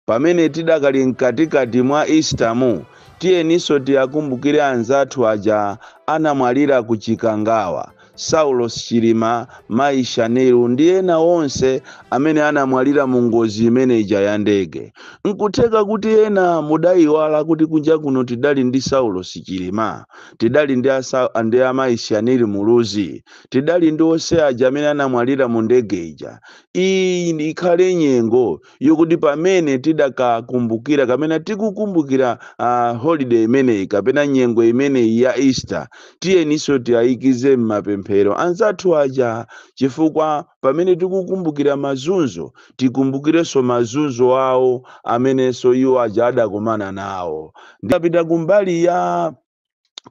Pamene tidakali mkatikati mwa Isitamu, tiyeninso tiakumbukire anzathu aja anamwalira ku Chikangawa, Saulos Chilima, Mayi Shanil ndi ena onse amene anamwalira mu ngozi imene ija ya ndege. N'kutheka kuti ena mudaiwala kuti kunja kuno tidali ndi Saulos Chilima, tidali ndi a Sau, ndi a Mayi Shanil Muluzi, tidali ndi onse aja amene anamwalira mu ndege ija. Iyi ikhale nyengo yokuti pamene tidakakumbukira kapena tikukumbukira uh, holiday imeneyi kapena nyengo imeneyi ya easter tiyeninso tiayikize m'mapemphero anzathu aja chifukwa pamene tikukumbukira mazunzo tikumbukirenso mazunzo awo amenenso iwo aja adakumana nawo ndikapita kumbali ya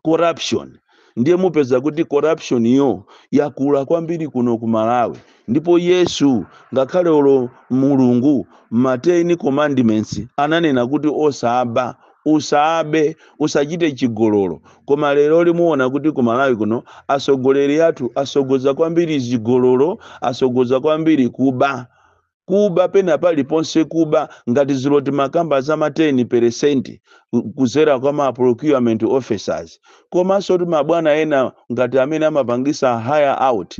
corruption ndiye mupeza kuti corruption yo yakula kwambiri kuno ku malawi ndipo yesu ngakhale olo mulungu ma 10 commandments ananena kuti osaba usabe usachite chigololo koma lero limuona kuti ku malawi kuno asogoleri athu asogoza kwambiri zigololo asogoza kwambiri kuba Kuba pena paliponse kuba ngati zija timakamba za ma 10 percent kuzera kwa ma procurement officers komansotu mabwana ena ngati amene amapangisa hire out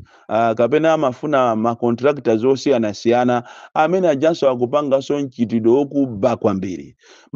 kapena amafuna ma contractors osiyanasiyana amene ajanso akupangaso mchitidwe wokuba kwambiri ma